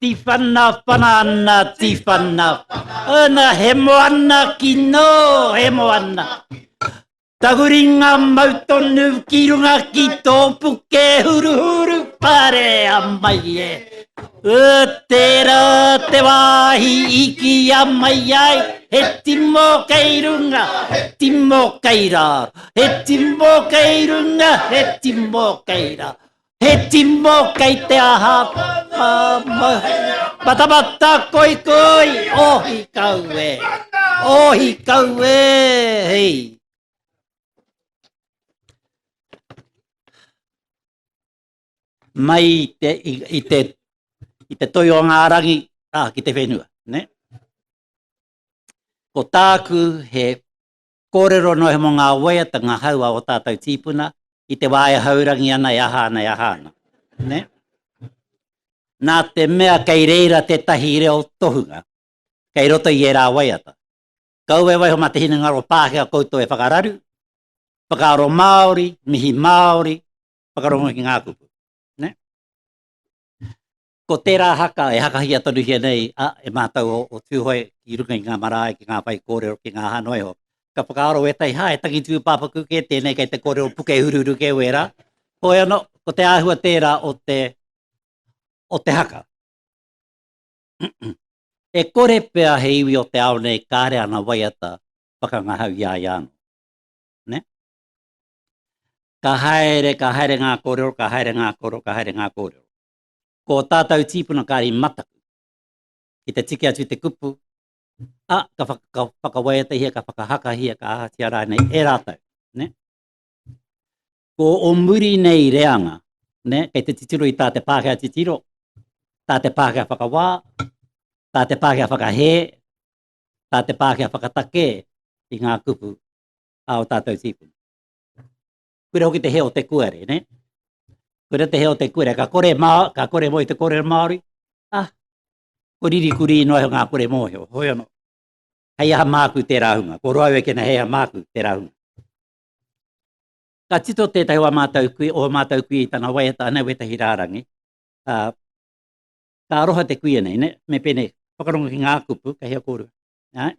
Tiwhana whana ana tiwhana Ana he moana ki no he moana Tahuringa mau tonu ki runga ki tō puke huru huru pare a mai e E tērā te wāhi i ki a mai ai He timo kei runga, he timo kei rāro He timo kei runga, he timo kei rāro He timo kei te aha whakamahi. Matamata koi koi, ohi kau e, ohi kau e, hei. Mai i te, i, i te, i te toi o ngā rangi, ah, ki te whenua, ne? Ko tāku he Kōrero noa iho mō ngā waiata, ngā hau a ō tātou tīpuna i te wā e haurangi ana, e aha ana, e aha ana. Nē? Nā te mea kei reira tētahi reo tohunga kei roto i ērā waiata. Kaua e waiho mā te hinengaro Pākehā koutou e whakararu, whakaaro Māori, mihi Māori, whakarongo ki ngā kupu. Nē? Ko tērā haka e hakahia tonuhia nei e mātou o Tūhoe i runga i ngā marae ki ngā whaikōrero, ki ngā hānua iho. Ka whakaaro ētahi, hā, he tangi tūpāpaku kē tēnei kei te kōrero puke huruhuru kē wērā. Hoi anō, ko te āhua tērā o te, o te haka. E kore pea he iwi o te ao nei kāre ana waiata whakangahau i a ia anō. Ne? Ka haere, ka haere ngā kōrero, ka haere ngā kōrero, ka haere ngā kōrero. Ko ō tātou tīpuna kāri mataku. Ki te tiki atu te kupu, a, ka, whaka, ka whakawaiatahia, ka whakahakahia, ka ahatia rānei e rātou. Ne? Ko o muri nei reanga, ne? kei te titiro i tā te Pākehā titiro, tā te Pākehā whakawā, tā te Pākehā whakahē, tā te Pākehā whakatake i ngā kupu a o tātou tīpuna. Koira hoki te hea o te kuare, ne? Koira te hea o te kuare, ka kore mā, ka kore mō i te kore Māori, ah, ko riri kuri ino ai ngā kore mōhio, hoi ano. Hei aha māku tērā hunga, ko roa e kena hei aha māku tērā hunga. Ka tito tētahi wā mātou kui, o mātou kui i tana waiata, anei wētahi rārangi, uh, ka aroha te kuia nei, ne? me pēne, whakarongo ki ngā kupu, ka hea kōrua. Right?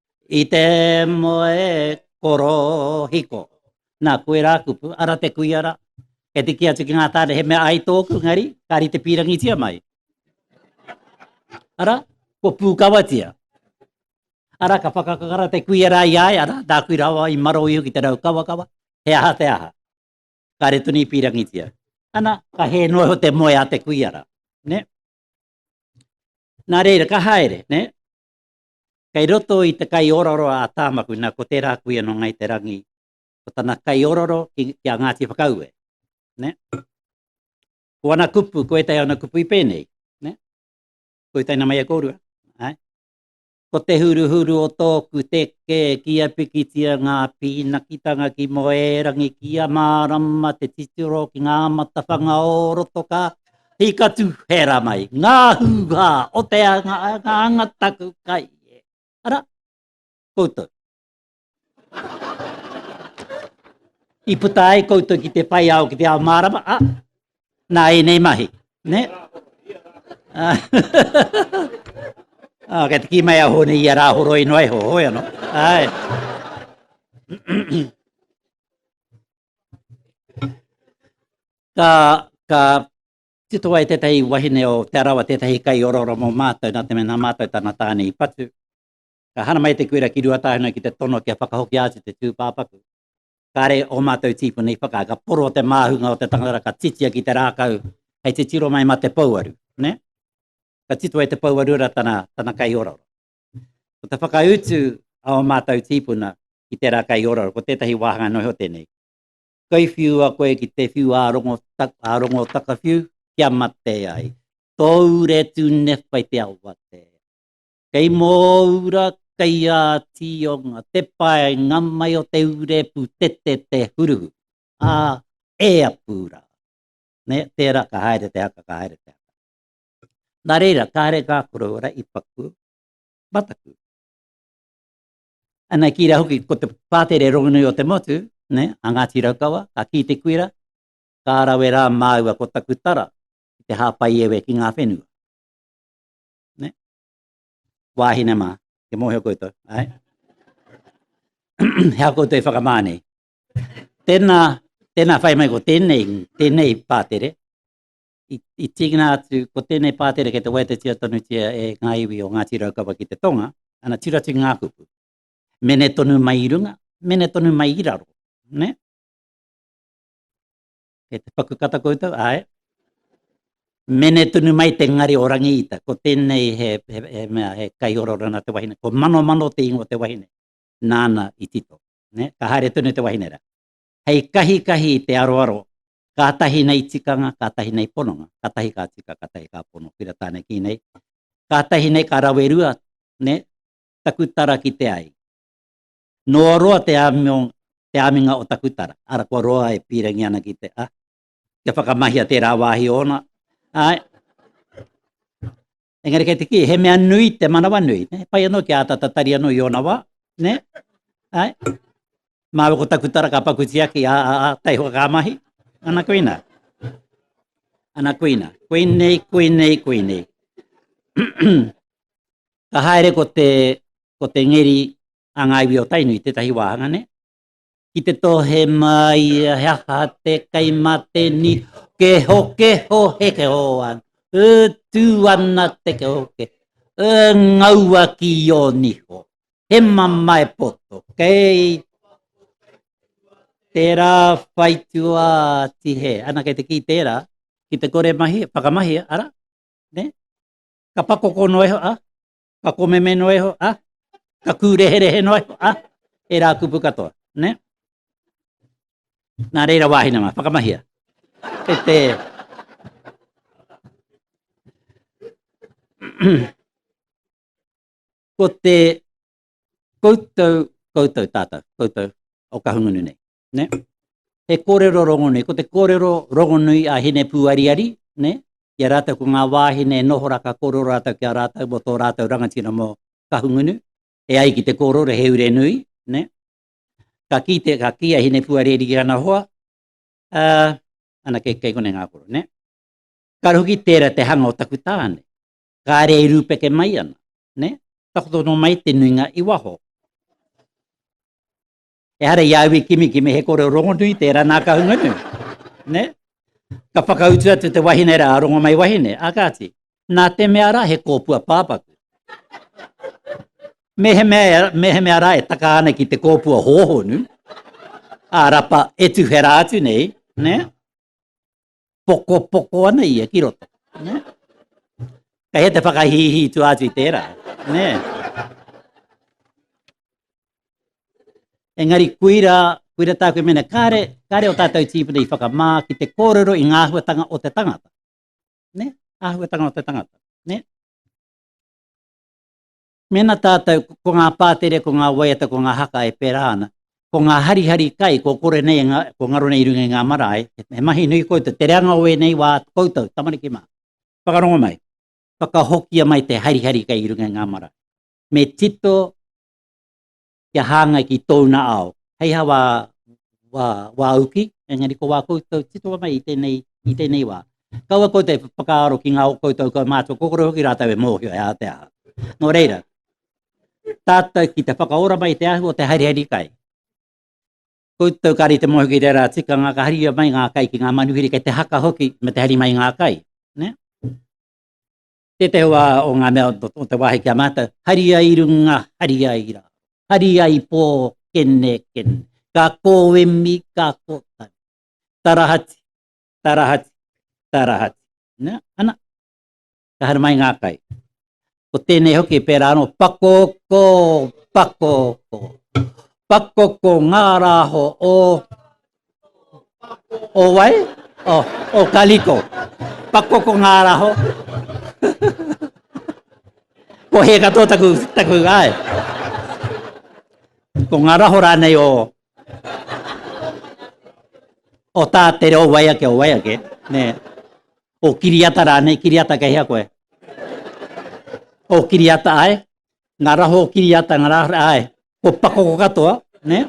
I te moe korohiko. Na, koe ra kupu, ara te kuia ra. Kei te ki atu ki nga tane he mea ai toku, engari, ka rite pirangitia mai. Ara, kua pukawatia. Ara, ka whakakakara te kuia ra i a ia, ara, na kui rawa i maro iho ki te rau kawakawa, he aha te aha. Kare tonu i pirangitia. Ana, ka he noa iho te moe a te kuia ra. Ne? Na reira, ka haere, ne? Kei roto i te kaiororo a Tāmaku, nā, ko tērā kuia nō Ngāi Te Rangi, ko tana kaiororo ki, ki a Ngāti Whakaue. Ne? Ko ana kupu, ko ētahi ana kupu i pēnei. Ne? Ko i taina mai e kōrua. Ai? Ko te huruhuru o tōku teke ki a pikitia ngā pīnakitanga ki Moerangi, ki a mārama te titiro ki ngā matawhanga o roto ka He katu hera mai, ngā hūhā o te anga, ngā anga taku kai. Ara, koutou. I puta ai koutou ki te whai ao, ki te ao mārama, a, nā e nei mahi, ne? Ah, ah kei te ki mai a hōne i a rā horo ino ai ho, hoi ano. Ai. Ka, ka tito ai tētahi wahine o Te Arawa, tētahi kai oraora mō mātou, nā te mea nā mātou tana tāne i patu. Ka hana mai te kuira ki Ruatāhuna ki te tono kia whakahokia atu te tūpāpaku. Kāre o mātou tīpuna i whakaae, ka poro te māhunga o te tangata, ka titia ki te rākau, hei te tiro mai mā te pouaru, nē? Ka tito ai te pouaru rā tana, tana kai oraora. Ko te whakautu a o mātou tīpuna ki te rā kai ora, ko tētahi wāhanga noa iho tēnei. Kai whiua koe ki te whiu ārongo, tak, ārongo takawhiu, kia mate ai. Tōu re tū newhai te awate. Kei mōura, kei ā tionga, te pae ngamai o te ure pu te te te huruhu. Ā, e a pūra. Ne, tērā ka haere te haka, ka haere te haka. Nā reira, kāre ngā koroua i paku mataku. Ana ki rā hoki, ko te pātere rongonui o te motu, ne, a Ngāti Raukawa, ka kī te kuira, Ka rawe rā māua ko taku tara ki te hāpai ewe ki ngā whenua. Ne? Wāhine mā, te mōhio koutou, ai? Hea koutou e whakamā nei. Tēnā, tēnā whai mai ko tēnei, tēnei pātere, i, i tīkina atu, ko tēnei pātere kei te waiatetia tonutia e ngā iwi o Ngāti Raukawa ki te tonga, ana tiratu ngā kupu. Mene tonu mai i runga, mene tonu mai i raro. Ne? Kei te paku kata koutou, ae. Mene tonu mai te ngari o rangi ita, ko tēnei he, he, he, mea, he kai ororana te wahine, ko mano mano te ingo te wahine, nāna i tito. Ne? Ka haere tonu te wahine ra. Hei kahi kahi te aroaro Kātahi nei tikanga, kātahi nei pononga, kātahi ka tika, kātahi ka pono, pira tāne ki nei. Kātahi nei ka rawe rua, ne, taku tara ki te ai. Noa roa te āmiong, te āminga o taku tara, ara kua roa e pīrangi ana ki te, a, kia whakamahia tērā wāhi ōna, āe. Engari kei te ki, he mea nui te manawa nui. Ne? Pai anō ki āta tatari anō i ōna wā. Ne? Ai? Māwe ko taku tara ka pakuti aki a, a, a tei hoa ka mahi. Ana kuina. Ana kuina. Kuinei, kuinei, kuinei. ka haere ko te, ko te ngeri a ngā iwi o Tainui, tētahi wāhanga, ne? Ki te tohe mai ia he aha te kei ma te ni keho keho he keho an e tu ana te keho ke e ngaua ki o niho he mamae poto kei tera whai tua ti he ana kei te ki tera ki te kore mahi whakamahia ara ne ka pakokono e ho a ka komeme noa iho, a? Ka kūreherehe noa iho, a? E rā kupu katoa, ne? Nā reira wāhine mā, whakamahia. E te... ko te koutou, koutou tātou, koutou o kahungunu nei. ne? He kōrero rongonui, ko te kōrero rongonui a Hine Pūariari, ne? Ki a rātou ko ngā wāhine e noho rā ka kōrero rātou ki a rātou mō tō rātou rangatira mō Kahungunu, e ai ki te kōrero he ure nui, ne? Ka kī te, ka kī a Hine Pūariari ki ana hoa, uh, ana kei, kei kone ngā koro, ne? Kāre hoki tērā te hanga o taku tāne, kāre e rūpeke mai ana, ne? Takoto no mai te nuinga i waho. Ehara i au i kimi ki me he kore o Rongonui, tērā nā Kahungunu. Ne? Ka whakautu atu te wahine rā, Rongomai wahine, a kāti, nā te mea rā he kōpua pāpaku. Me he mea, me he mea rā e taka ana ki te kōpua hōhonu, a rapa e tuwhera atu nei, ne? pokopoko ana ia ki roto. Ne? Kei he te whakahihi tu atu i tērā. Ne? Engari kuira, kuira tāku mena, kāre, kāre o tātou tīpuna i whakamā ki te kōrero i ngā ahuatanga o te tangata. Ne? Ahuatanga o te tangata. Ne? Mēnā tātou, ko ngā pātere, ko ngā waiata, ko ngā haka e pērā ana, ko ngā harihari kai kua kore nei, kua ngaro nei i runga i ngā marae, he mahi nui koutou, te reanga o ēnei wā atu koutou, tamariki mā, whakarongo mai, whakahokia mai te harihari kai i runga i ngā marae. Me tito. kia hāngai ki tōna ao. Hei ha wā, wā, wā uki, engari ko wā koutou titoa mai i tēnei, i tēnei wā. Kaua koutou e whakaaro ki ngā o koutou kaumātua kōkore hoki rātou e mōhio he aha te aha. Nō reira, tātou ki te whakaora mai te ahu o te haeriheri kai. Koutou kāri te mōhio ki tērā tikanga ka haria mai ngā kai ki ngā manuhiri kei te haka hoki me te hari mai ngā kai. Ne? Tētehi wā o ngā mea o te wāhi ki a mātou, hari ai runga, hari ai rā, hari ai pō, kene, kene, ka kōemi, ka kōtau, tarahati, tarahati, tarahati. Nā, ana, ka haere mai ngā kai. Ko tēnei hoki, pērā anō, pakoko, pakoko, pakoko ngā rāho o O wai? O, o Kaliko. Pako ko ngā raho. ko he katoa taku, taku ai. Ko ngā raho rānei o o tā te reo wai ake o wai ake, ne, o kiriata rānei, kiriata kei hea koe. O kiriata ai, ngā raho o kiriata, ngā raho ai, ko pako ko katoa, ne?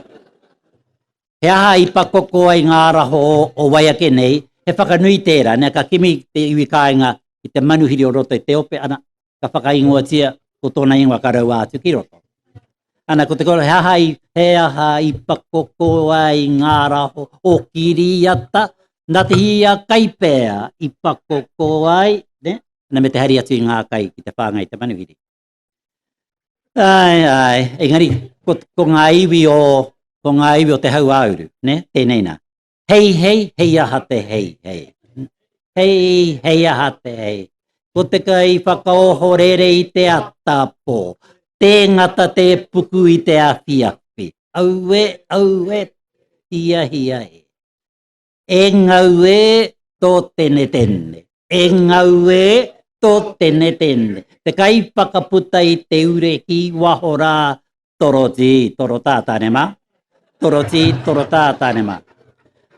He aha i pakoko ai ngā araho o wai ake nei, he whakanui tērā, nē, ka kimi te iwi kāinga ki te manuhiri o roto i te ope, ana, ka whakaingoatia ko tōna ingoa ka raua atu ki roto. Ana, ko te kōrero, he aha i, he aha i pakoko ai ngā araho o kiriata, nā te hia kai pea i pakoko ai, nē, ana me te hari atu i ngā kai ki te whāngai i te manuhiri. Ai, ai, engari, ko, ko ngā iwi o, ko ngā iwi o te hau āuru, ne, tēnei nā. Hei, hei, hei aha te hei, hei. Hei, hei aha te hei. Ko te ka i whakaoho rere i te atapō, tē ngata tē puku i te awhiawhi. Aue, aue, hia, hia, hia. E ngau e, tō tene tene. E ngau e, tō tene tene. Te kai whakaputa i te ure ki waho rā, torotī, torotā tāne mā. Torotī, torotā tāne mā.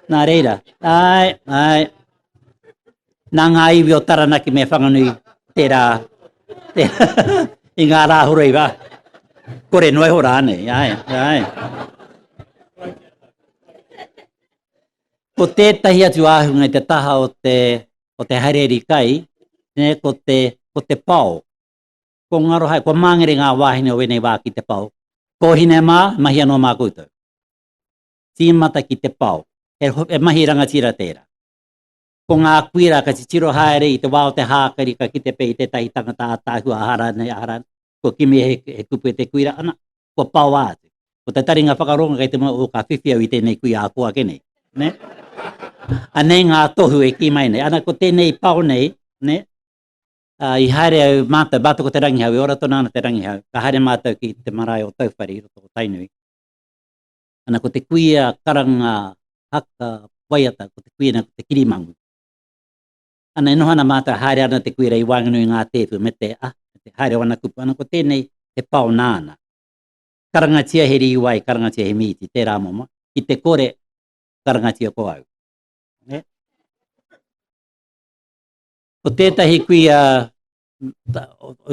Nā reira, āe, āe. Nā ngā iwi o Taranaki me Whanganui tērā, tērā i ngā rā horei wā. Kore noa iho rānei, āe, āe. Ko tētahi atu āhunga i te taha o te, o te haere iri kai, ne, ko te, ko te pao. Ko ngaro hae, kua māngere ngā wāhine o ēnei wā ki te pao. Kōhine mā, mahi anō mā koutou. Tīmata ki te pao. He, he mahi rangatira tērā. Ko ngā kuira ka titiro haere i te wā o te hākari ka kite pea i tētahi tangata ātaahua ahara nei ahara nei, kua kimi he, he kupu e te kuira ana, kua paoa atu. Ko te taringa whakarongo kei te mau o ka whiwhi au i tēnei kui ako ake nei. Ne? Anei ngā tohu e kī mai nei. Ana ko tēnei pao nei, ne? Uh, i haere au mātou, mātou ko te rangihau, e ora tonu ana te rangihau. Ka haere mātou ki te marae o Tauwhare i roto o Tainui. Ana ko te kuia karanga haka waiata, ko te kuia nei ko te kirimangu. Ana e noho ana mātou haere ana te kuira i waenganui i ngā tēpu me te a, me te haere o ana kupu. Ana ko tēnei he pao nāna. Karangatia he rīwai, karangatia he mīti, tērā momo, ki te kore, karangatia ko au. Ne? Ko tētahi kuia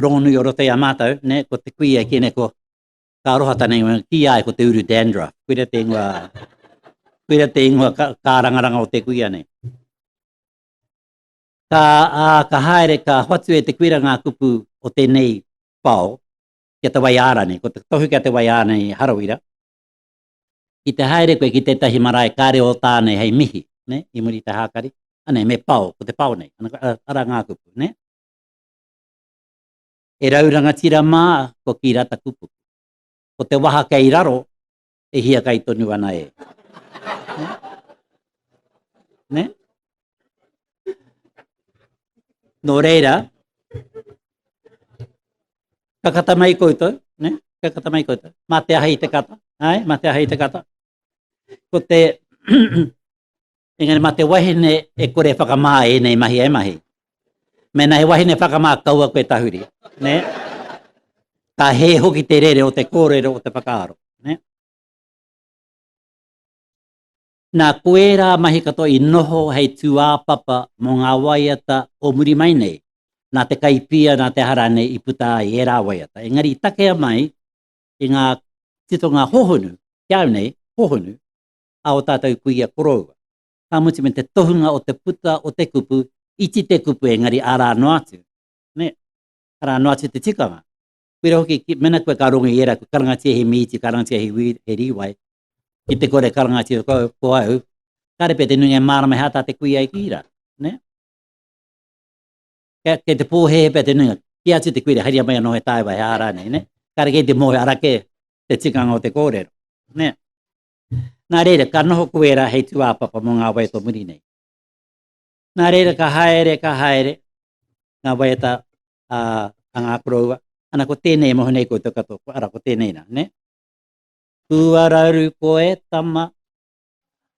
rongonui o roto i a mātou, ne? ko te kuia ki nei ko Ka aroha tana ingoa, ki a ia ko te uru dandruff. Koira te ingoa, koira te ingoa ka, kārangaranga o te kuia nei. Ka, a, ka haere, ka hoatu e te kuira ngā kupu o tēnei pao, ki te wai āra nei, ko te tohu ki te wai āra nei harawira, ki te haere koe ki tētahi marae kāre o tā nei hei mihi, ne? i muri i te hākari, anei me pao, ko te pao nei, ara ngā kupu, ne? He rau rangatira mā ko ki rata kupu. Ko te waha kei raro, e hiakai tonu ana e. Ne? Nō reira, ka kata mai koutou, ne? ka kata mai koutou, mā te aha i te kata, ai, mā te aha i te kata. Ko te, Engari ma te wahine e kore e whakamā e enei mahi e mahi. Mena he wahine whakamā kaua koe tahuri. Ne? Ka he hoki te rere o te kōrero o te whakaaro. Ne? Nā koērā mahi katoa i noho hei tūāpapa mō ngā waiata o muri mai nei, nā te kaipia, nā te hara nei i puta ai e rā waiata. Engari i takea mai i ngā titonga hohonu, kia au nei, hohonu, a o tātou kuia koroua. Ka mutu me te tohunga o te puta o te kupu, iti te kupu engari arā noa atu. Nē, arā noa atu te tikanga. Koira hoki, mēnā koe ka rongo i ērā, kua karangatia he mīti, karangatia he wī, he rīwai, ki te kore karangatia ko, ko au, kāre pea te nuinga e mārama he āta te kuia ai ki ērā. Nē? Kei, kei te pōhēhē pea te nuinga, ki atu te kuira, haria mai anō he tāewa, he ā rānei, nē? Kāre kei te mōhio, arā kē te tikanga o te kōrero. Nē? Nā reira, ka noho koe rā hei tūāpapa mō ngā waiata muri nei. Nā reira, ka haere, ka haere, ngā waiata a, a ngā koroua. Ana ko tēnei moho nei koutou katoa, ko ara, ko tēnei nā, ne? Kua raru koe, tama,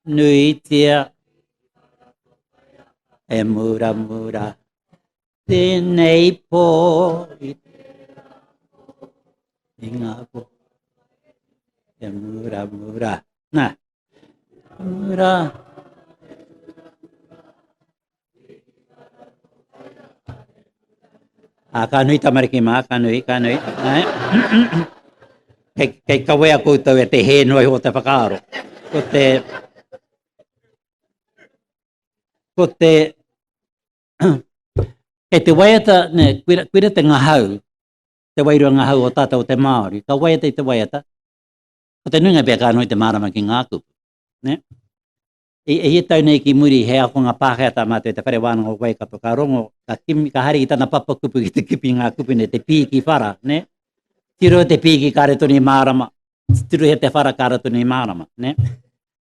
nuitia, e mura mura. Tēnei pō i i ngā pō e mura mura. Nā, mura. A ka nui tamariki mā, ka nui, ka nui. kei, kei kawea koutou e te hē noa i o te whakaaro. Ko te... Ko te... Kei te waiata, ne, koira, koira te ngahau, te wairua ngahau o tātou o te Māori, ka waiata i te waiata, ko te nuinga pea ka noho i te mārama ki ngā kupu. Ne? I, i e tau nei ki muri, he akonga Pākehā tā mātou i te whare wānanga o Waikato, ka rongo, ka, kimi, ka hari ki tana papa kupu ki te kipi ngā kupu nei, te pī ki whara, ne? Tiro te pī ki kāre tonu i mārama, tiro he te whara kāre tonu i mārama, ne?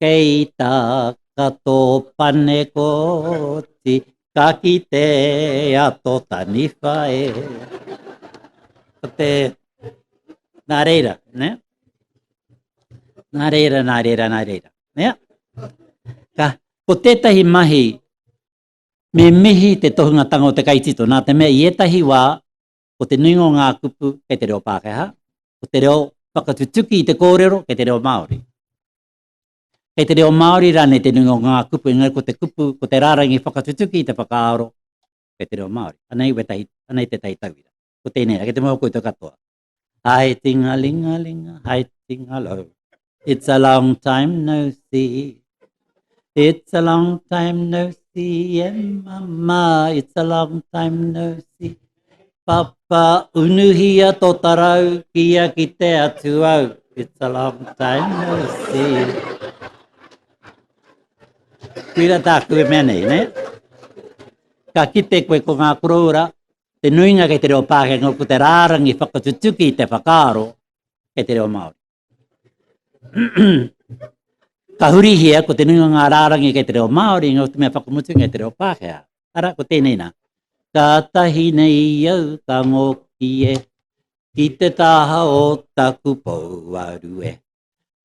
Kei tā kato pane koti, ka kite a tō taniwha e. Ko te... Nā reira, ne? Nā reira, nā reira, nā reira. Ne? Ka, ko tētahi mahi, me mihi te tohungatanga o te kaitito, nā te mea i ētahi wā, Ko te nuinga o ngā kupu kei te reo Pākehā, ko te reo whakatutuki i te kōrero kei te reo Māori. Kei te reo Māori rānei te nuinga o ngā kupu, engari ko te kupu, ko te rārangi whakatutuki i te whakaaro kei te reo Māori. Anei, wetahi, anei tētahi tauira. Ko tēnei rā, kei te mau koutou katoa. Hai tingalingalinga, hai tingalau. It's a long time no see. It's a long time no see, yeah, mama. It's a long time no see. Papa, unuhia tō tarau, kia ki te atu au. It's a long time no see. Kuira tāku e mea nei, ne? Ka kite koe ko ngā koroura, te nuinga kei te reo Pākengā, ko te rārangi whakatutuki te whakaaro kei te reo Māori. ka hurihia ko te nunga ngā rārangi kei te reo Māori, ngā te mea whakamutu kei te reo Pākehā. Ara, ko tēnei nā. Ka tahi nei au, ka ngōki e, ki te taha o taku pouaru e.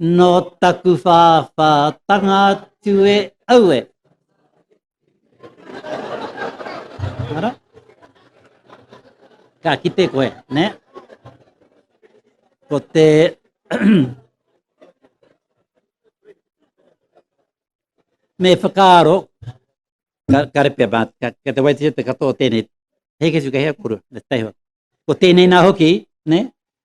Nō taku whāwhātanga atu e au e. Ara? Ka kite koe, ne? Ko te... me whakaaro, ka, ka repea mā, ka, ka te waititi te katoa tēnei, hei kesi ka hea kuru, me te teiho. Ko tēnei nā hoki, ne?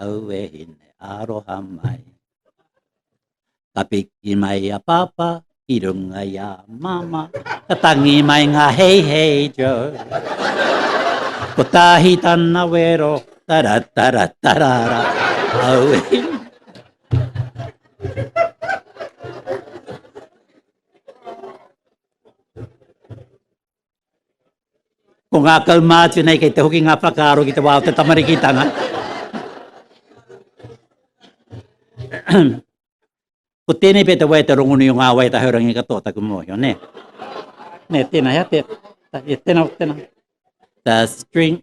aue hine aroha mai. Ka piki mai a papa ki runga i a mama, ka tangi mai ngā hei hei jo. Ko tāhi tana wero, tara tara tara ra, aue hine. Ko ngā kaumātua nei kei te hoki ngā whakaaro ki te wā o te tamarikitanga. ko tēnei pē te wai te rongonui o ngā wai tahaurangi katoa taku mōhio, nē. Nē, tēnā hea, tēnā, tēnā, tēnā. The string,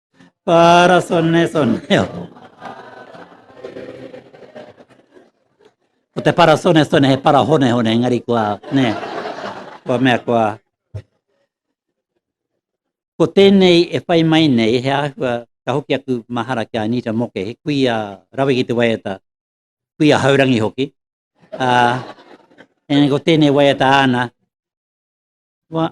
Para sone soneo. Ko te para sone sone he para hone hone, engari kua, ne, kua mea kua. Ko tēnei e whai mai nei, he āhua, ka hoki aku mahara ki a Anita Moke, he kui a rawe ki te waiata, kui a haurangi hoki. Uh, ene ko tēnei waiata āna, wa,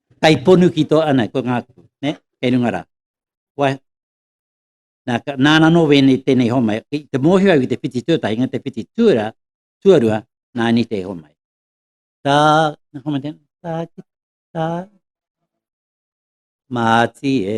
Kai ponu ki to, ana, ko nga, ne, kei runga ra. Wai, na, ka, nana no wene tenei homai, ki te mohio au ki te whiti tuatahi, nga te whiti tuara, tuarua, na ni te homai. Ta, na homai tena, ta, ki, ta, mati e,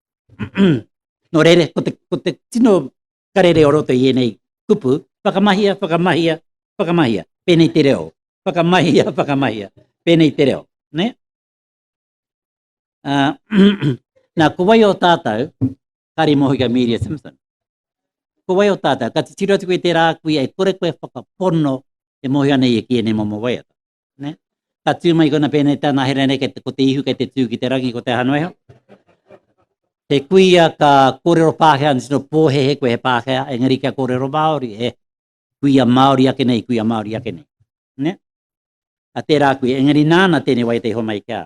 Nō reira, ko te, ko te tino karere o roto i ēnei kupu, whakamahia, whakamahia, whakamahia, pēnei te reo. Whakamahia, whakamahia, pēnei te reo. Ne? Uh, nā, ko wai o tātou, Kari Mohiga Media Simpson, ko wai o tātou, ka titiro atu koe tērā kui, e kore koe whakapono e mohi ana ia ki ēnei momo waiata. Ne? Ka tū mai kona pēnei tāna here nei, kei te, ko te ihu kei te tū ki te rangi, ko te aha noeho. He kuia ka kōrero Pākehā, nitino pōhehe koe he Pākehā, engari kia kōrero Māori, e kuia Māori ake nei, kuia Māori ake nei. Ne? A tērā kuia, engari nāna tēnei wai te iho mai kia.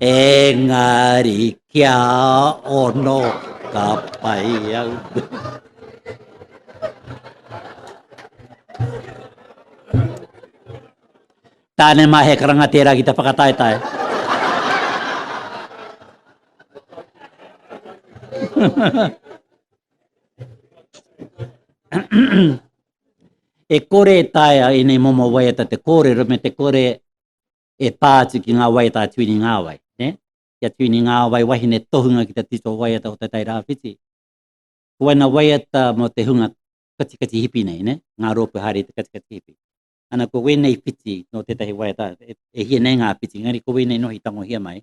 Engari kia ono ka pai au. Tāne mā he karanga tērā ki te whakataetae. e kore e taea i nei momo waiata te kōrero me te kore e pā atu ki ngā waiata a Tuini Ngāwai, nē? Ki a Tuini Ngāwai, wahine tohunga ki te tito waiata o Te Tai Rāwhiti. Ko waena waiata mō te hunga katikati hipi nei, nē? Ngā rōpū haere i te katikati hipi. Ana, ko wēnei whiti nō tētahi waiata, e hia nei ngā whiti, engari ko wēnei nohi tangohia mai,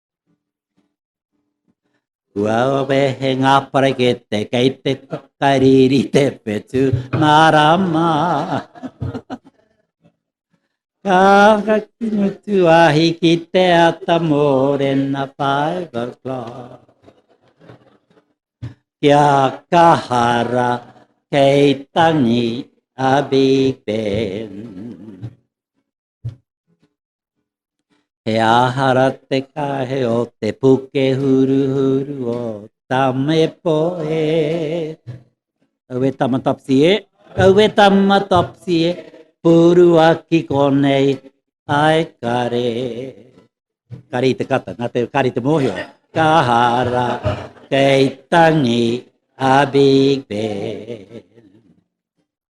Kua wehe ngā parakete kei te kariri te whetu nā rama. Ka haki mutu ahi ki te ata mōrena five o'clock. Kia kahara kei tangi a Big Ben. He ahara te kahe o te puke huru huru o Tamepo e. Au e tamatapsi e, au e tamatapsi e, puru aki konei, ai kare. Kare i te kata, nga te kare i te mohio. Ka hara, kei tangi, a big band.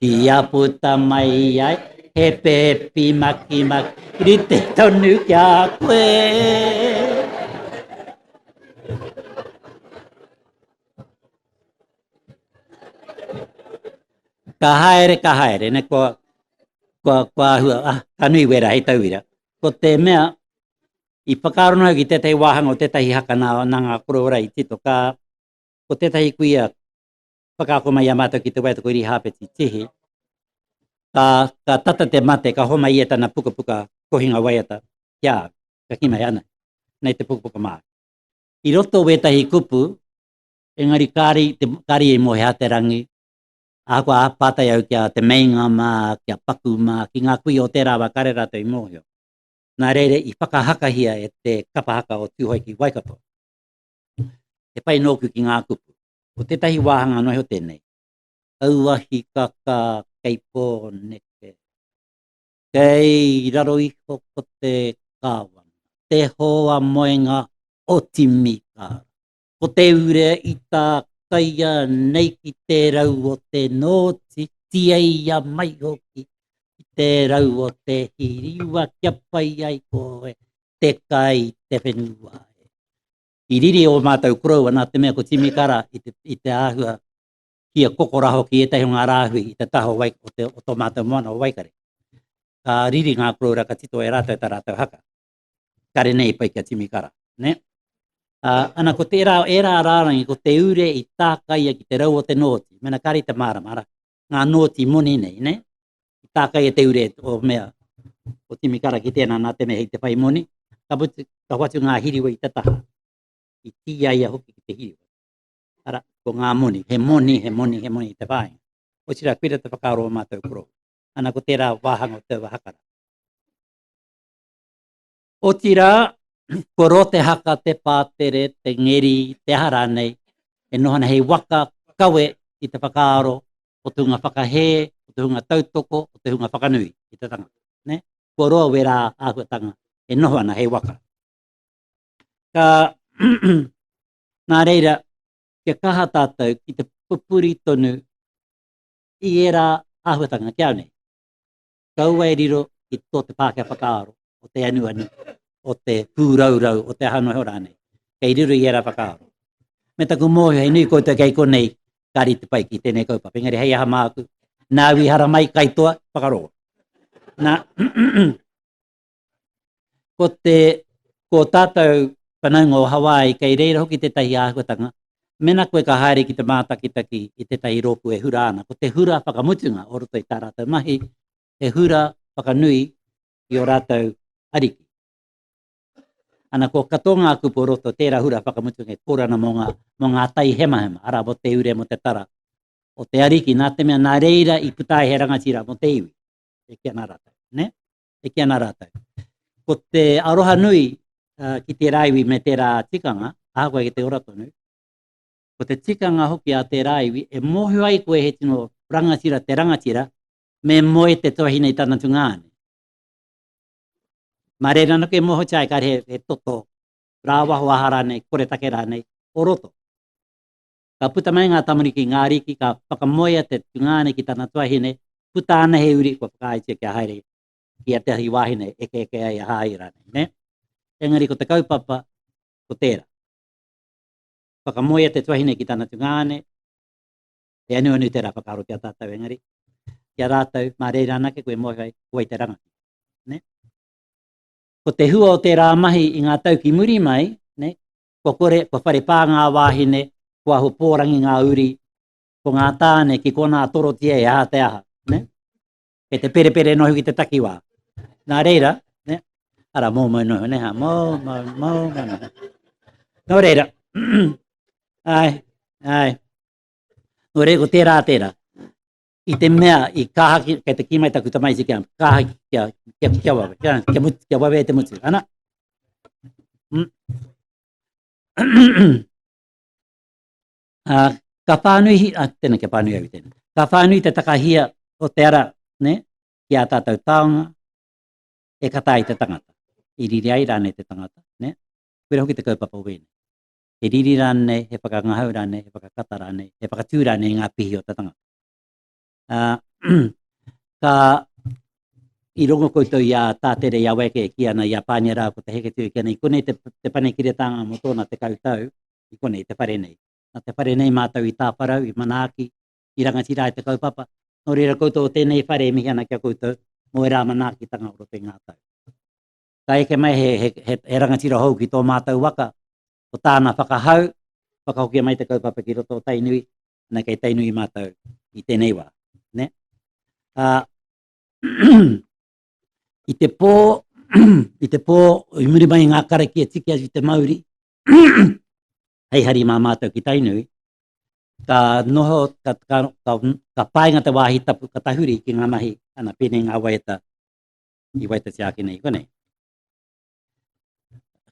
Kia puta mai ai he pepi maki maki rite tonu ki a koe. Ka haere, ka haere, ne kua, kua, kua hua, ah, ka nui wera hei tauira. Ko te mea, i whakarono au ki tētahi wāhanga o tētahi haka nā, nā ngā koroora i tito, ka, ko tētahi kuia whakaako mai i a mātou ki te waiata ko Irihāpeti Tihi, ka, ka tata te mate, ka homa ia tana pukapuka kohinga waiata ki a au. Ka ki mai ana, nei te pukapuka mā. I roto wētahi kupu, engari kāri, te, kāri i mōhea te rangi, ahakoa pātai au kia te meinga mā, kia paku mā, ki ngā kui o tērā wā kāre rātou i mōhio. Nā reira i whakahakahia e te kapa haka o Tūhoe ki Waikato. He pai nōku ki ngā kupu. Ko tētahi wāhanga noa iho tēnei. Auahi kaka kei Pōneke. Kei raro iho ko te kāwana. Te hoa moenga o Timikara. Ko te ure i tā kaia nei ki te rau o te nōti, tiaia mai hoki ki te rau o te hiriwa kia pai ai koe te kai, te whenua. I riri o mātou koroua nā te mea ko Timi Kara i te, i te āhua kia kokora hoki ētahi o ngā rāhui i te taha o, wai, o, te, o tō mātou moana o Waikare. Ka riri ngā koroura ka tito e rātou tā rātou haka. Kare nei pai kia Timi Kara. Ne? Uh, ana ko tērā, ērā rārangi, ko te ure i tākaia ki te rau o te nōti, mena kāre te mārama, ara, ngā nōti moni nei, ne? I tākai e te ure o mea, o Timi Kara ki tēnā nā te mea hei te whai moni, ka, putu, ka whatu ngā hiriwa i te taha, i tīia ia hoki ki te hiriwa. Ara, ko ngā moni, he moni, he moni, he moni i te whāi. O tira, kuira te whakaaro o mātou koro. Ana ko tērā wāhanga o te wahakara. Otirā, kua roa te haka, te pātere, te ngeri, te aha rānei, e noho ana hei waka kawe i te whakaaro o te hunga whakahē, o te hunga tautoko, o te hunga whakanui i te tangata. Ne? Kua roa wērā āhuatanga e noho ana hei waka. Ka, nā reira, kia kaha tātou ki te pupuri tonu i ērā āhuatanga kia au nei. kaua e riro ki tō te Pākehā whakaaro o te anuanu, o te pūraurau, o te aha noa iho rānei. Kei riro i ērā whakaaro. Me taku mōhio, he nui koutou kei konei, ka rite pai ki tēnei kaupapa. Engari hei aha māku, nāu i haramai, kaitoa, whakarongo. Nā, ko te ko tātou whanaunga o Hawaii kei reira hoki tētahi āhuatanga, mena koe ka haere ki te mātakitaki i tētahi rōpū e hura ana, ko te hura whakamutunga o roto i tā rātou mahi, he hura whakanui i o rātou ariki. Ana ko katoa ngā kupu o roto tērā hura whakamutunga e kōrana mō ngā, mō ngā tai hemahema, ara mō te ure, mō te tara, o te ariki, nā te mea nā reira i puta ai he rangatira mō te iwi, e ki ana rātou, ne? e kī ana rātou. Ko te aroha nui uh, ki tērā iwi me tērā tikanga, ahakoa ki te ora tonu, ko te tikanga hoki a tērā iwi, e mōhio ai koe he tino rangatira te rangatira, me moe te tuahine i tana tunga ane. Mā reira no ke moho chai kare he, he toto, rāwaho aha rānei, kore take rānei, o roto. Ka puta mai ngā tamariki i ngā ariki, ka whakamoea te tungāne ki tana tuahine, puta ana he uri kua whakaaetia kia haere ki a te ahi wāhine eke eke ai a Hāhi rānei, nē? Engari ko te kaupapa, ko tērā. Whakamoea te tuahine ki tana tungāne, he anuanu tērā whakaaro ki a tātou engari, ki a rātou, mā reira anake koe mōhio ai, ko wai te rangatira. Ko te hua o tērā mahi i ngā tau ki muri mai, Kua kore, kua whare pā ngā wāhine, kua ahu pōrangi ngā uri, ko ngā tāne ki konā torotia e aha te aha. Ne? Kei te perepere noa hoki te takiwā. Nā reira, ne? ara mō mō noho, ne? ha, mō, mō, mō, mō noho. Nō reira, ai, ai, nō reira, ko tērā, tērā. i te mea i kaha ki, kei te ki mai taku tamaiti kia kaha ki kia, kia, kia wawe, kia, kia, mutu, kia wawe e te mutu, ana. Mm. uh, ka whānui, uh, tēnā kia whānui au tēnā, ka whānui te takahia o te ara, ne, ki a tātou taonga, e kata ai te tangata, i riri ai rāne te tangata, ne, kura hoki te kaupapa wēne. he riri rānei, he whakangahau rānei, he whakakata rānei, he whakatū rānei i ngā pihi o te tangata. Uh, ka i rongo koutou i a Tātere, i a Weke, ki ana i a Pānia rā, ko te heke tū ki ana, i konei te, te pane ki retanga mō tōna te kautau, i konei te whare nei. Na te whare nei mātou i tāwharau, i manaaki, i rangatira e te kaupapa, nō reira koutou o tēnei whare e mihi ana ki a koutou, mō e rā manaakitanga o roto i ngā tau. ka eke mai he, he, he, he rangatira hou ki tō mātou waka, ko tāna whakahau, whakahokia mai te kaupapa ki roto o Tainui, ana kei Tainui mātou i tēnei wā. Ne? Uh, i te pō, i te pō, i muri mai ngā karaki e tiki atu te mauri, hei hari mā mātou ki Tainui, ka noho, ka, ka, ka, ka painga te wāhi tapu ka tahuri ki ngā mahi ana pēnei ngā waeta i waita tiaki nei konei.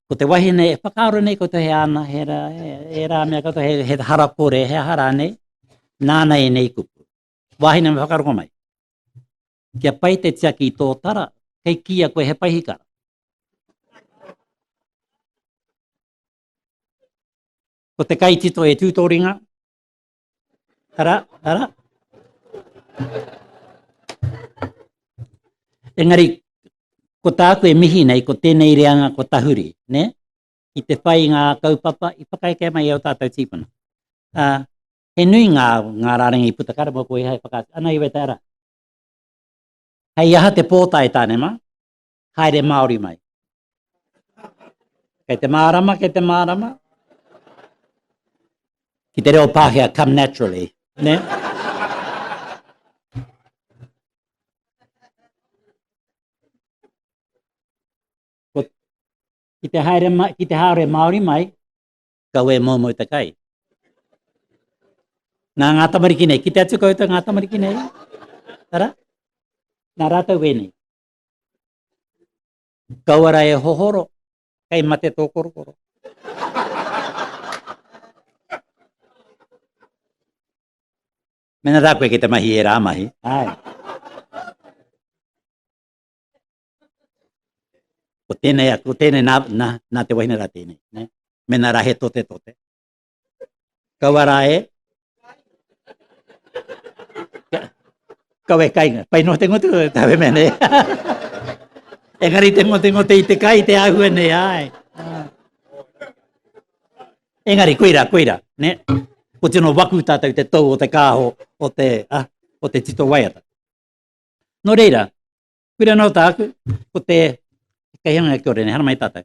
Ko te wahine e whakaaro nei koutou he ana, he ra, e rā mea koutou he, he hara kore, he hara nei, nāna e nei kupu. Wahine me whakaaro ko mai. Kia pai te tiaki i tō tara, kei kia koe he paihikara. Ko te kai tito e tūtoringa, Tara, tara. Engari, ko tāku e mihi nei, ko tēnei reanga ko tahuri, ne? I te whai ngā kaupapa, i whakaeke mai au tātou tīpuna. Uh, he nui ngā, ngā rārangi puta kare mō koe hai whakaatu. Ana iwe te ara. Hei aha te pōtai tāne mā? haere Māori mai. Kei te mārama, kei te mārama. Ki te reo Pākehā, come naturally. Ne? Ki te, haere, ki te haere Māori mai, kau e mō mō te kai. Nā ngā tamariki nei, ki te atu koutou ngā tamariki nei. Tara? Nā rātou wēnei. Kaua ra e hohoro, kei mate tō korokoro. Mena ra koe ki te mahi e ra mahi. Ai. Ko tēnei, ko tēnei, nā, nā, nā te wahine rā tēnei. Ne? Mena rā he tote tote. Kaua rā e. Kaua e kainga. Pai noa te ngote koe, tā me mene. Engari te ngote ngote i te kai, te ahua nei, ai. Engari, koira, koira, ne? Ko tino waku tātou te tau o te kāho, o te, ah, o te tito waiata. No reira, kura nō tāku, ko te, kei hanga kia ore, ne, hana mai tātou.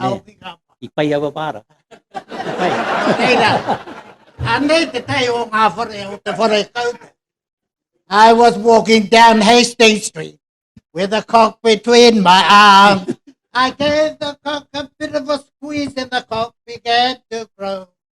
Nē, i pai aua māra. I pai. Nei rā. Anei te tei o ngā whare o te whare kauta. I was walking down Hastings Street with a cock between my arms. I gave the cock a bit of a squeeze and the cock began to grow.